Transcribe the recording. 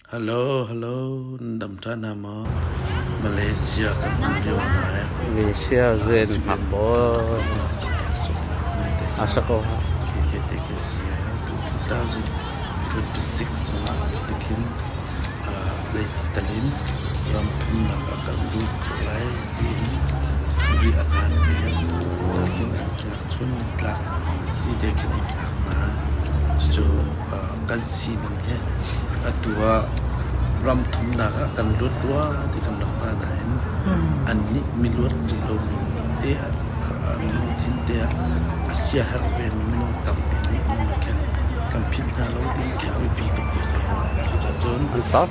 Halo halo nan dam ṭhan hna maw? Malaysia kan um lio ah ngai. Malaysia zen hngak bawi. Asa ko ha. Kike te ke si. 2026 zongah kitikin zei titalin ram thumnak a kan lut khawh lai tiin ri a hlan tiin kitikin chun nan tlak ti te khin in thlak hna. Cucu kan sining hi atu ah ram thumnak ah kan luat rua ti kan lang hna nain an nih mi luat ti lomi te ah lungthin te ah a siaherh vemi minung tampi nih nung le khen kan philh hna lo ti khi a biapi tuk ti ka ruah. Cucacun